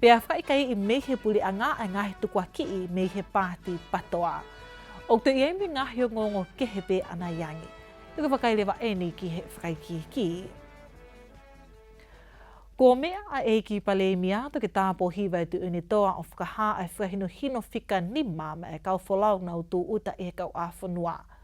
Pea whaikai i mei he puri a nga a nga he tukua kii mei he paati patoa. O te iei me nga hio ngongo ke he pe ana iangi. I te whakaile wa eni ki he whakaiki kii. Ko mea a ei ki Paleimia to ke taapo hiwai tu uni toa o whakaha ai whakahino hino fika ni mam e kau folaunau tu uta i he kau a whanua.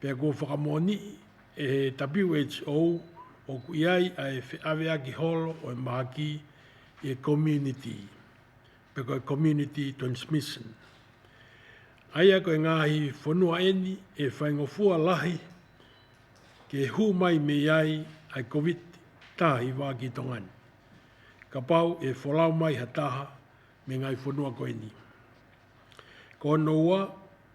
Pea kua whakamōnii e he WHO ōku i ai a e wheawea ki holo o e maha ki i e community, pea koe community transmission. Aia koe ngāhi whanua eni e whaingofua lahi ke hū mai me iai ai Covid ta i wā ki tonga ni. Ka pau e wholau mai ha taha me ngai whanua koe ni. Ko ono ua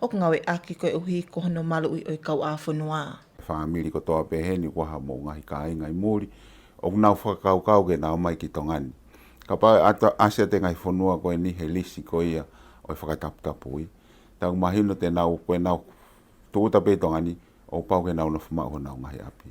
Oko nga we aki koe o hi ko hono malo ui oi kau a fono a. Whaamiri ko toa pehe ni waha mo ngahi kainga i muri o nau whakakau kau ke nau mai ki tonga ni. Ka pa asia te ngahi fonua koe ni he lisi ko ia oi whakataputapu i. Tau mahi no te nau koe nau tokutape tonga ni o pau ke nau na whama o nau ngahi api.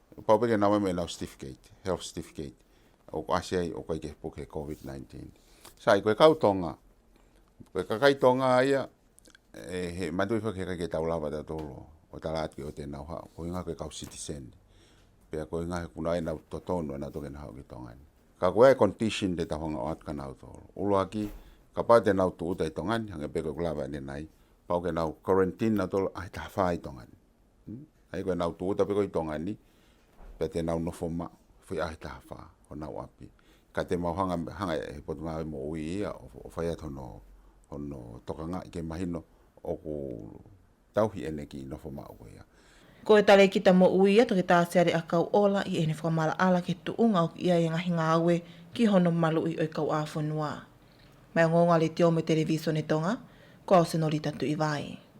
Paupeke nā wai me nau certificate, health certificate, o ko ase ai o kai ke puke COVID-19. Sa i koe kau tonga, koe kakai tonga aia, e he mandu i whake kai ke tau lawa ta tolo, o ta la atu o te nau hao, koe ngā koe kau citizen, pia koe ngā he kuna ai nau to tonu anā toke nā hao ki tonga ni. Ka koe ai condition te tawhanga o atu ka nau tolo. Ulua ki, ka pau te nau tu uta i tonga ni, hange pe koe kulawa ni nai, pau ke nau quarantine nā tolo, ai ta hawha i tonga ni. Hmm? Ai koe nau tō tape koe tonga ni, pia te nau no foma, fui ahi taha wha, o nau api. Ka te mau hanga, hanga e he potu māwe mo ui ia, o whai atu no, o no toka ngā ike mahino, o ko tauhi ene ki no foma o koe ia. Ko he tare kita mo ui ia to ke tāteare a kau ola i ene whakamaala ala ke tu unga o ki ia e ngahi ngā aue ki hono malu i oi kau āwhonua. Mai o ngōngari te ome televīsone tonga, ko ao senorita Tuivae.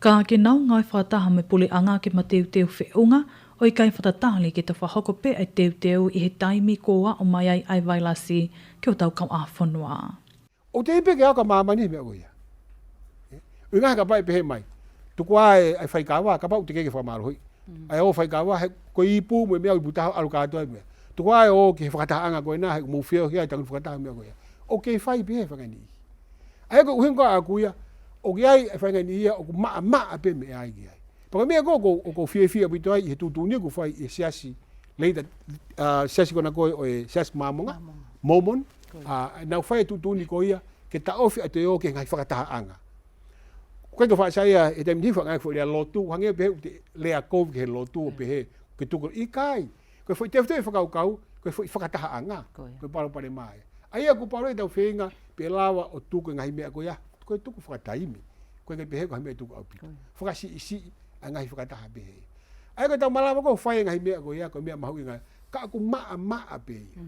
Ka ake nao ngai wha taha me pole anga ke mateuteu whe unga, oi kai whata tahali ke tawha hoko pe ai teuteu i he taimi ko wa o mai ai ai vai lasi ke o tau kau awhanoa. O te ipe ke ao ka mama nei mea oia. Oi ngahe ka pae pehe mai, tuku a e ai whai ka wa, ka pau te keke wha maro hoi. Ai o whai ka wa he ko i ipu mo mea ipu taha aro ka atoa mea. Tuku a e o ke he whakataha anga koe na he mo whio hia i tangu whakataha mea oia. O ke whai pehe whakani i. Ae ko uhenga a kuia, o ki ai e whainga ni ia o ku maa maa a peme e ae ki ai. Pa ka mea koko o ko fie fie pito ai i he tutu ni ku whai i he siasi, leida siasi kona koe o e siasi maamonga, Mormon, a nau whai e tutu ni ko ia, ke ta ofi a te o ke ngai whakataha anga. Ku kai ka wha sa ia e te mnihi wha ngai ku lea lotu, hange pehe u te lea kou ke he lotu o pehe, ke tuku i kai, Koe fo i te whutei whakaukau, koe fo i whakataha a nga, koe paro pare maia. Ai a ko paro i tau whenga, pe lawa o tuku ngahi mea koe a, koe tuku whakataimi, koe ngai pehe koe mea tuku au pito. Whakasi i si, a ngahi whakataha pehe. Ai koe tau malawa koe whai ngahi mea koe a, koe mea mahu i nga, ka aku maa maa pe ia.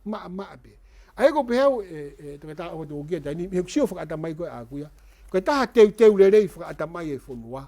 Maa maa pe. Ai koe pehe au, e, e, te kata au toko kia tani, mihu ksio whakata mai koe a kuia, koe taha teu teu rerei whakata mai e fonua,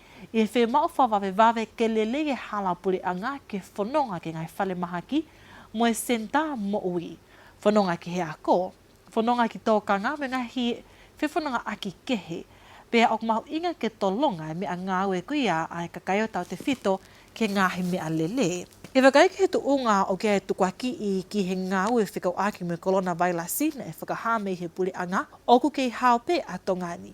E whe mao fa vave vave ke lele ge hala pure anga ke whanonga ke ngai whale maha ki moe senta mo ui. Whanonga ki he ako, whanonga ki to kanga me nga hi whe whanonga aki kehe. Pea ok mahu inga ke to longa me a ngau e kui a ae kakai o tau te whito ke ngahi me a lele. He whakaeke he to unga o ke ae tukuaki i ki he ngau e whekau aki me kolona vai la sina e whakaha me i he pure anga oku kei hao pe a tongani.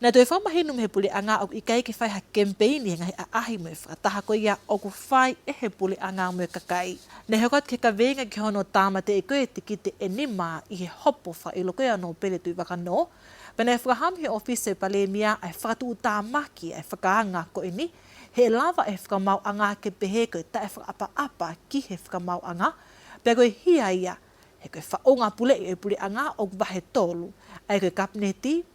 Nei toi whamahi nu me pule a nga oku i kei ki whai ha campaign i engahi a ahi moe whakataha koe i a oku whai e he pule a nga moe kakai nei he hokat he ka veinga ki hono tamate i koe te kite e ni ma i he hopo wha i loko i ano pele tui waka no pena e whakaham he office e palemia ai whakatu u tamaki ai whaka nga ko ini he lava e whakamau a nga kepehe koe ta e whakapa apa ki he whakamau a nga pea koe hi a ia he koe wha o nga pule i e pule a nga oku wahe tolu ai koe kapneti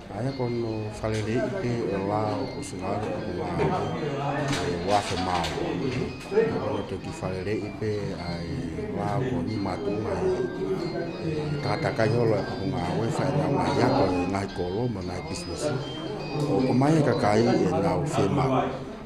Aia ko no wharere i te wā o ko Singaro ko Māori e wāwhe māua. Ko no te ki wharere i te ai wā ko ni mātou mai. E tātā kai holo e ko ngā wē whai ngā wā i ako e ngāi kōrō ma ngāi business. Ko ko mai e ka kai e ngā o whē mā.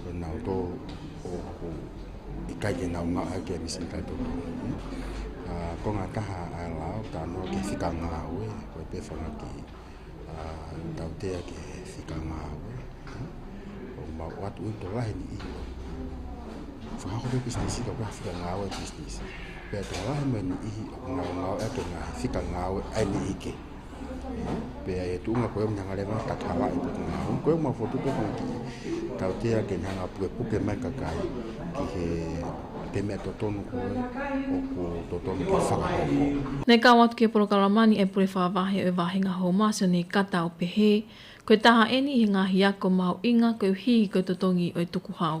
Tēnā o tō ōku i kai kē nā o ngā ake ni sin kai tō tō. Ko ngā taha a la o tā nō ke whika ngā ue, ko e pēwhanga ki tau tea ke whika ngā ue. Ko mā o atu uto lahi ni i ua. Whakahore business i ka kua whika ngā ue business. Pēr tō lahi mē ni i ngā ngā ake ngā whika ngā ue ai ni i ke. Pea e tu nga koe mna ngare nga tata nga ipo nga hong koe ma fotu pe kong ki. Tau te a ke nga pue puke mai ka kai ki he te mea to tonu koe o ko to tonu ke whaka hoko. Nei ka watu ke porokarama ni e pure wha vahe o vahe nga ho masio nei ka tau pe he. Koe taha e ni he nga hiako mau inga koe hihi koe to tongi o e tuku hau.